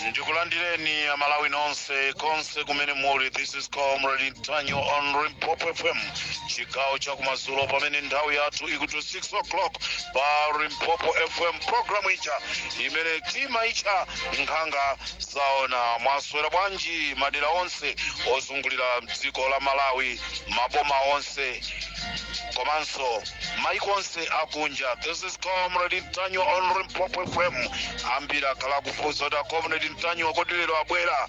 ndikulandireni amalawi nonse konse kumene muli this is comrade mtanyo on Limpopo fm chigawo chakumadzulo pamene nthawi yathu ikuti 6 o'clock pa Limpopo fm programu ija imene timaitcha nkhanga zaona mwaswera bwanji madera onse ozungulira dziko la malawi maboma onse komanso maiko onse akunja this is comrade mtanyo on Limpopo fm ambiri akhala kufunsa kuti akomrade mtanyo kodi lero abwera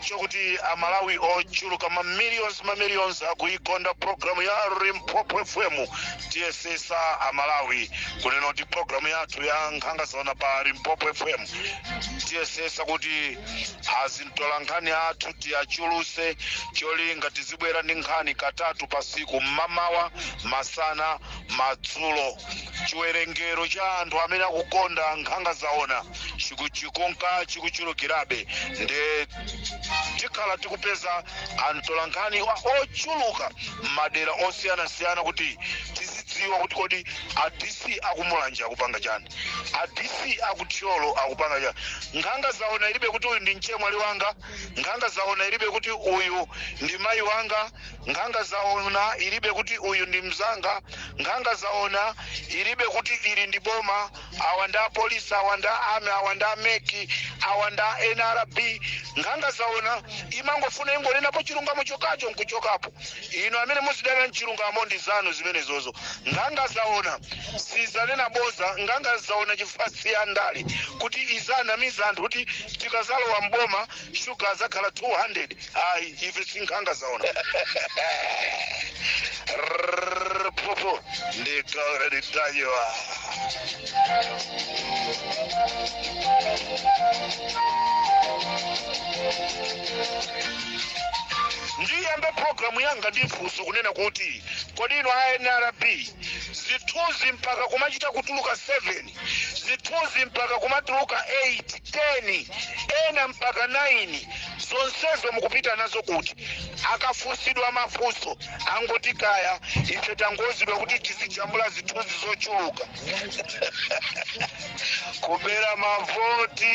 chokuti amalawi ochuluka mamillions mamillions akuikonda programu ya Limpopo fm tiyesesa amalawi kunena kuti programu yathu ya nkhanga zaona pa Limpopo fm tiyesesa kuti azintolankhani athu tiwachuluse cholinga tizibwera ndi nkhani katatu pasiku mmamawa masana madzulo chiwerengero cha anthu amene akukonda nkhanga zaona chikunka chikuchulukirabe nde tikhala tikupeza atolankhani ochuluka m'madera osiyanasiyana kuti tizidziwa kuti kodi a DC aku Mulanje akupanga chani a DC aku Thyolo akupanga chani nkhanga zaona ilibe kuti uyu ndi mchemwali wanga nkhanga zaona ilibe kuti uyu ndi mayi wanga nkhanga zaona ilibe kuti uyu ndi mzanga nkhanga zaona ilibe kuti ili ndi boma awa nda apolisi awa nda army awa nda MEC awa nda nrb nkhanga zaona imangofuna ingonenapo chilungamo chokacho nkuchokapo inu amene muzidana nchilungamo ndi zanu zimenezozo nkhanga zaona sizanena boza nkhanga zaona chifukwa si yandale kuti izinamiza anthu kuti tikazalowa mboma shuga azakhala 200 ayi ife ndi nkhanga zaona Rrrr, popo ndikaona nditayiwa ndiyambe programu yanga ndifunso kunena kuti kodi inu a nrb zithunzi mpaka kumachita kutuluka 7 zithunzi mpaka kumatuluka 8 10 ena mpaka 9 zonsezo mukupita nazo kuti akafunsidwa mafunso angoti kaya ife tangouzidwa kuti tizijambula zithunzi zochuluka kubera mavoti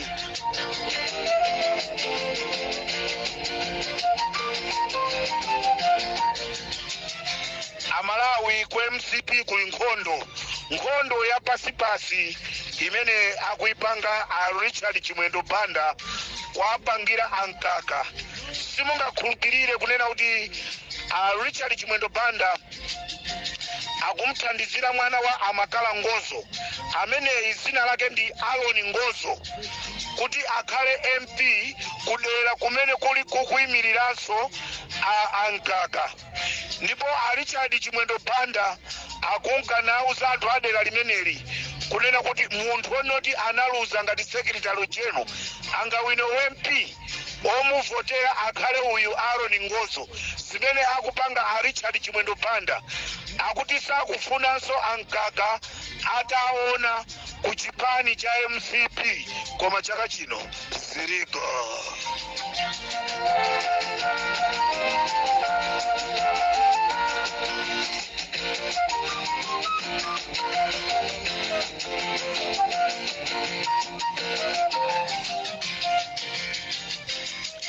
amalawi ku mcp kuli nkhondo nkhondo ya pansipansi imene akuyipanga a richard chimwendo banda kuwapangira a mkaka simungakhulupirire kunena kuti a richard chimwendo banda akumuthandizira mwana wa a makala ngozo ameneyi dzina lake ndi aaron ngozo kuti akhale mp kudera kumene kuli akuyimiriranso a mkaka ndipo a richard chimwendo banda akunka nawuza anthu a dera limeneli kunena kuti munthu woti analuza ngati secretary general angawine ump womuvotera akhale uyu Aaron Ngozo zimene akupanga a Richard Chimwendo Banda akuti sakufunanso a mkaka ataona ku chipani cha mcp koma chaka chino ziliko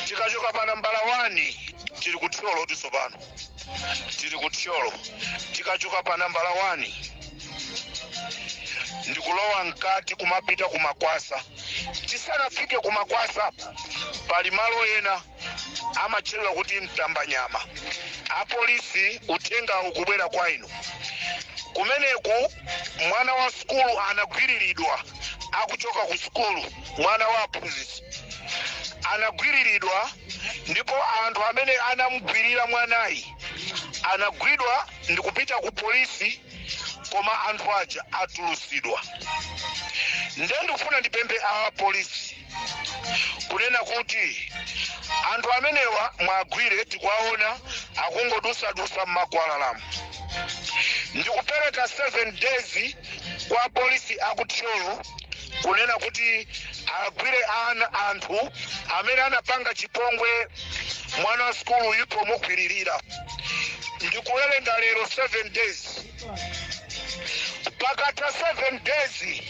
tikachoka pa nambala 1 tili ku thyolo tsopano tili ku thyolo tikachoka pa nambala 1 ndikulowa mkati kumapita ku makwasa tisanafike ku makwasa pali malo ena amatchedwa kuti mtambanyama apolisi uthengawu ukubwera kwa inu kumeneku mwana wa sukulu anagwiriridwa akuchoka ku sukulu mwana wa aphunzitsi anagwiriridwa ndipo anthu amene anamugwirira mwanayi anagwidwa ndikupita ku polisi koma anthu aja atulusidwa nde ndikufuna ndipemphe apolisi kunena kuti anthu amenewa muwagwire tikuwaona akungodusadusa mmakwalalamu ndikupereka 7 days kwa polisi aku thyolo kunena kuti agwire ana anthu amene anapanga chipongwe mwana wa sukuluyu pomugwiririra ndikuwerenga lero 7 days pakatha 7 days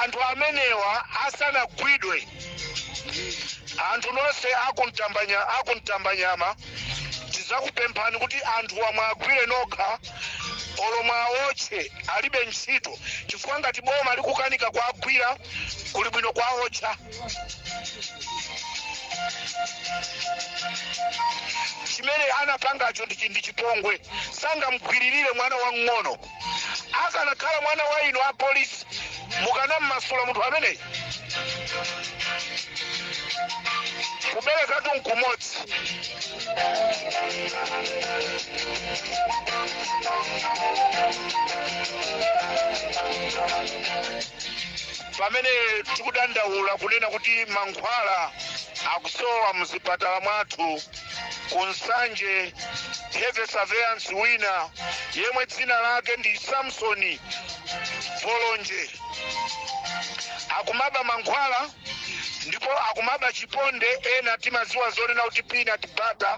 anthu amenewa asanagwidwe anthu nonse akumtambanya akumtambanyama tizakupemphani kuti anthuwa muwagwire nokha olo muwaotche alibe ntchito chifukwa ngati boma likukanika kuwagwira kuli bwino kuwaotcha chimene anapangacho ndi chi- ndi chipongwe sangamgwiririre mwana wang'ono akanakhala mwana wa inu a polisi mukanammasula munthu ameneyi kubereka tu nkumodzi pamene tikudandaula kunena kuti mankhwala akusowa muzipatala mwathu ku nsanje health surveillance wina yemwe dzina lake ndi samsoni volonje akumaba mankhwala ndipo akumaba chiponde ena timaziwa zonena kuti peanut butter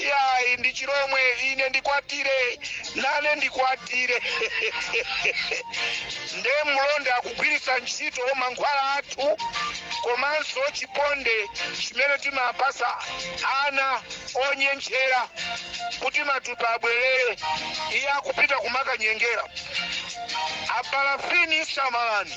Iyayi, ndi Chilomwe, ine ndikwatire, nane ndikwatire. Nde mlonda akugwiritsa ntchito mankhwala athu komanso chiponde chimene timapasa ana onyentchera kuti matupi abwerere, iye akupita kumakanyengera. Apalafini samalani.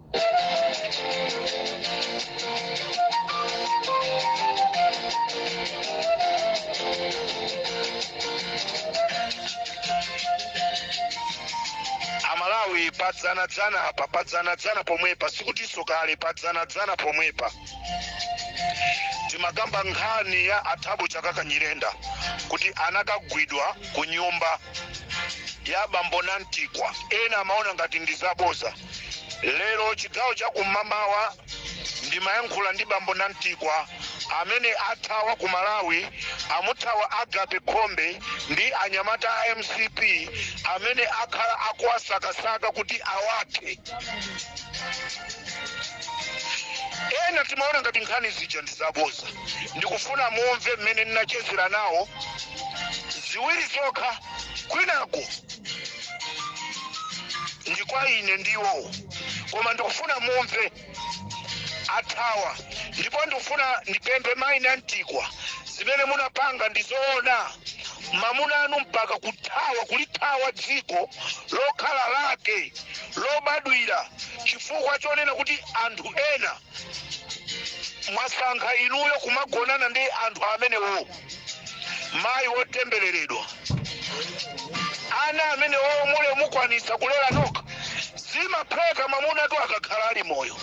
amalawi padzanadzana apa padzanadzana pomwepa sikutinso kale padzanadzana pomwepa timakamba nkhani ya a Thabo Chakaka Nyirenda kuti anakagwidwa ku nyumba ya bambo Namtikwa ena amaona ngati ndi zaboza lero chigawo cha kum'mamawa ndimayankhula ndi bambo Namtikwa amene athawa ku malawi amuthawa Agape khombe ndi anyamata a mcp amene akhala akuwasakasaka kuti awathe ena timaona ngati nkhani zija ndizaboza ndikufuna mumve mmene ndinachezera nawo ziwiri zokha kwinako ndi kwa ine ndiwo koma ndikufuna mumve athawa ndipo ndikufuna ndipemphe mayi Namtikwa zimene munapanga ndi zoona mamuna anu mpaka kuthawa kulithawa dziko lokhala lake lobadwira chifukwa chonena kuti anthu ena mwasankha inuyo kumagonana ndi anthu amenewo mayi wotembereredwa ana amene wowo mule mukwanisa kulera nokha zimapheka mamunatu akakhala ali moyo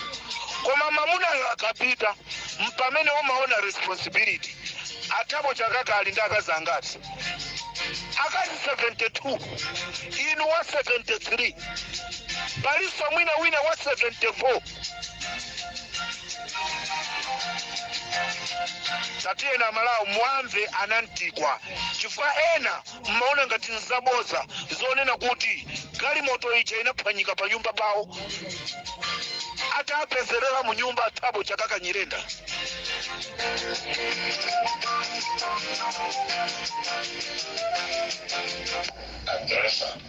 koma mamunayo akapita mpamene umaona responsibility a Thabo Chakaka ali ndi akazi angati akazi 72 inu wa 73 palinso mwina wina wa 74 tatiyeni amalawi muwamve anamtikwa chifukwa ena mmaona ngati nzaboza zonena kuti galimoto ija inaphwanyika pa nyumba pawo atapezerera mu nyumba a Thabo Chakaka nyirenda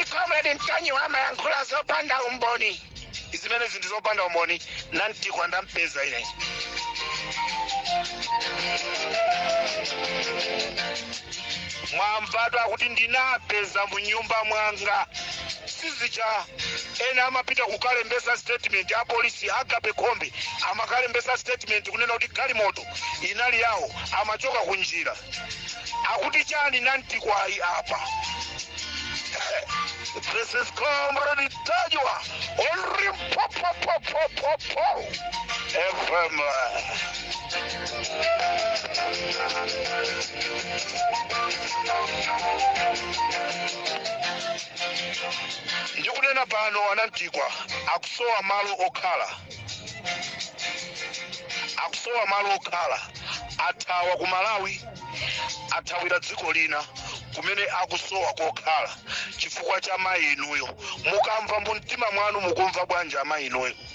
a comrade mtanyiwa amayankhula zopanda umboni zimene zinthu zopanda umboni namtikwa ndampeza ine mwamvatu kuti ndinapeza mu nyumba mwanga sizija ena amapita kukalembesa statement a polisi Agape Khombe amakalembesa statement kunena kuti galimoto inali yawo amachoka ku njira akuti chani namtikwayi apa This is Comrade Mtanyiwa on Limpopo FM. ndikunena pano anamtikwa akusowa malo okhala akusowa malo okhala athawa ku malawi athawira dziko lina kumene akusowa kokhala chifukwa cha mayi inuyo mukamva mu mtima mwanu mukumva bwanji amayi inuyo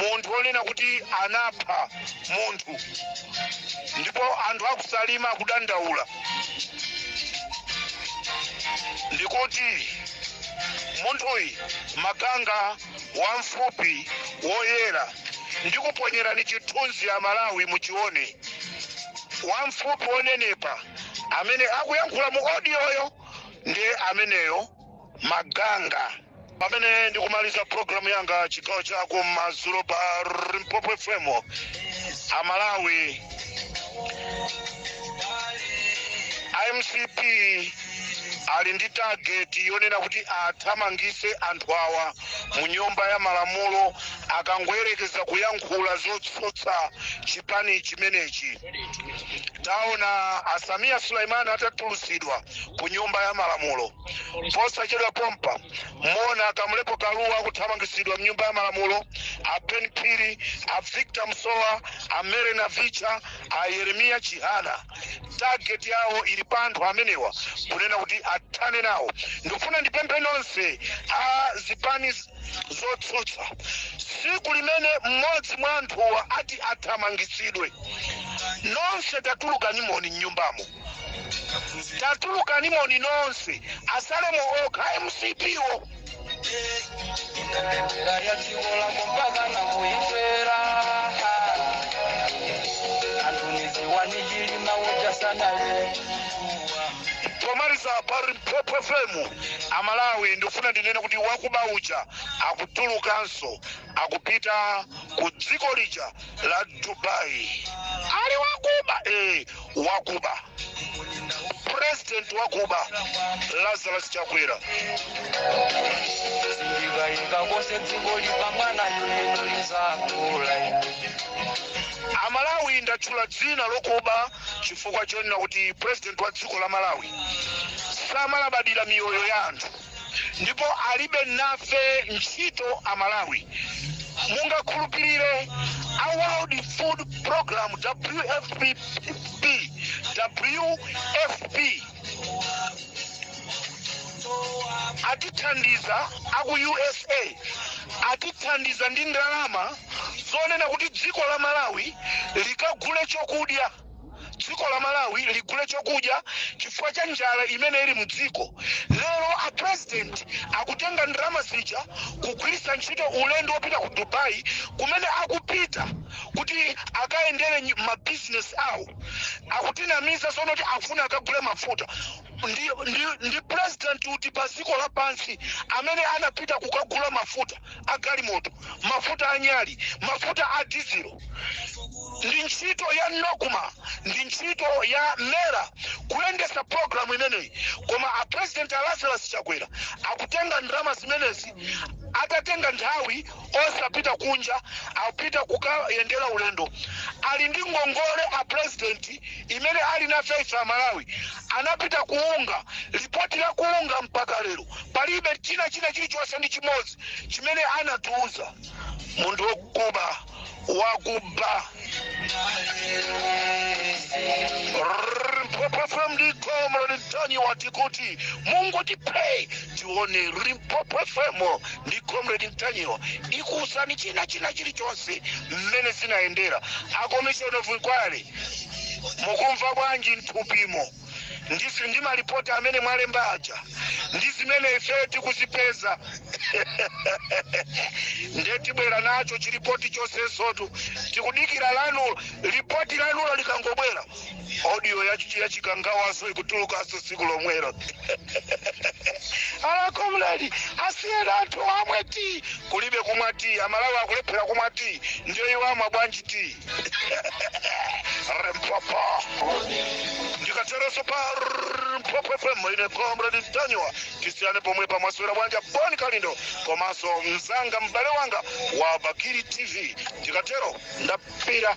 munthu wonena kuti anapha munthu ndipo anthu akusalima akudandaula ndikuti munthuyi maganga wamfupi woyera ndikuponyerani chithunzi amalawi muchione wamfupi wonenepa amene akuyankhula mu odiyoyo ndi ameneyo maganga pamene ndikumaliza programu yanga chigawo cha kumadzulo pa limpopo fm amalawi a mcp ali ndi tageti yonena kuti athamangise anthu awa mu nyumba ya malamulo akangoyerekeza kuyankhula zotsutsa chipani chimenechi taona a sameer suleman atatulusidwa ku nyumba ya malamulo posachedwa pompa muona kamulepo kaluwa akuthamangisidwa mnyumba ya malamulo a ben phiri a victor msowa a mary navicha a yeremiya chihana tageti yawo ili pa anthu amenewa kunena kuti athane nawo ndikufuna ndipemphe nonse a zipani z- zotsutsa tsiku limene mmodzi mwa anthuwa ati athamangitsidwe nonse tatulukanimoni mnyumbamo tatulukanimoni nonse atsalemo okha a mcp wo pomaliza pa limpopo fm Amalawi ndifuna ndinene kuti wakuba uja akutulukanso akupita ku dziko lija la Dubai ali wakuba eh, wakuba president wakuba Lazarus Chakwera Sindikaika konse dziko lipambana yoneno lizakula ine. Amalawi ndatchula dzina lokuba chifukwa chonena kuti president wa dziko la malawi samalabadira miyoyo ya anthu ndipo alibe nafe ntchito a malawi mungakhulupirire a world food program wfp wfp atithandiza aku usa atithandiza ndi ndalama zonena kuti dziko la malawi likagule chokudya dziko la malawi ligule chokudya chifukwa cha njala imene ili mdziko lero a president akutenga ndalama zija kugwiritsa ntchito ulendo wopita ku dubai kumene akupita kuti akayendere nyi- mabizinesi awo akutinamiza sono kuti akufuna akagule mafuta ndi, ndi, ndi president uti pa dziko lapansi amene anapita kukagula mafuta a galimoto mafuta a nyali mafuta a dizilo ndi ntchito ya nocma ndi ntchito ya mera kuyendesa programu imeneyi koma a president a lazarus chakwera akutenga ndalama zimenezi atatenga nthawi osapita kunja akupita kukayendera ulendo ali ndi ngongole a president imene ali nafe ife amalawi anapita ku unga lipoti la ku unga mpaka lero palibe china china chilichonse ndi chimodzi chimene anatiuza munthu wokuba wakuba Limpopo FM ndi Comrade Ntanyiwa tikuti Mungu tipei tione Limpopo FM ndi Comrade Ntanyiwa ikuwuzani china china chilichonse mmene zinayendera a commission of inquiry mukumva bwanji mthupimo ndi, ndi malipoti amene mwalemba aja ndi zimene ifeyo tikuzipeza nde tibwera nacho chilipoti chonsensotu tikudikira lanulo lipoti lanulo likangobwera audio yachi- yachikangawanso ikutulukanso tsiku lomwelo alakomledi asiyeni anthuwa amwe ti kulibe kumwa ti amalawi akulephera kumwa ti ndiyo iwo amwa bwanji ti mpopo ndikateronso pa mpopo fm ine comrade daniel tisiyane pomwepa maswera bwanji boni kalindo komanso mzanga m'bale wanga wa bakiri tv ndikatero ndapita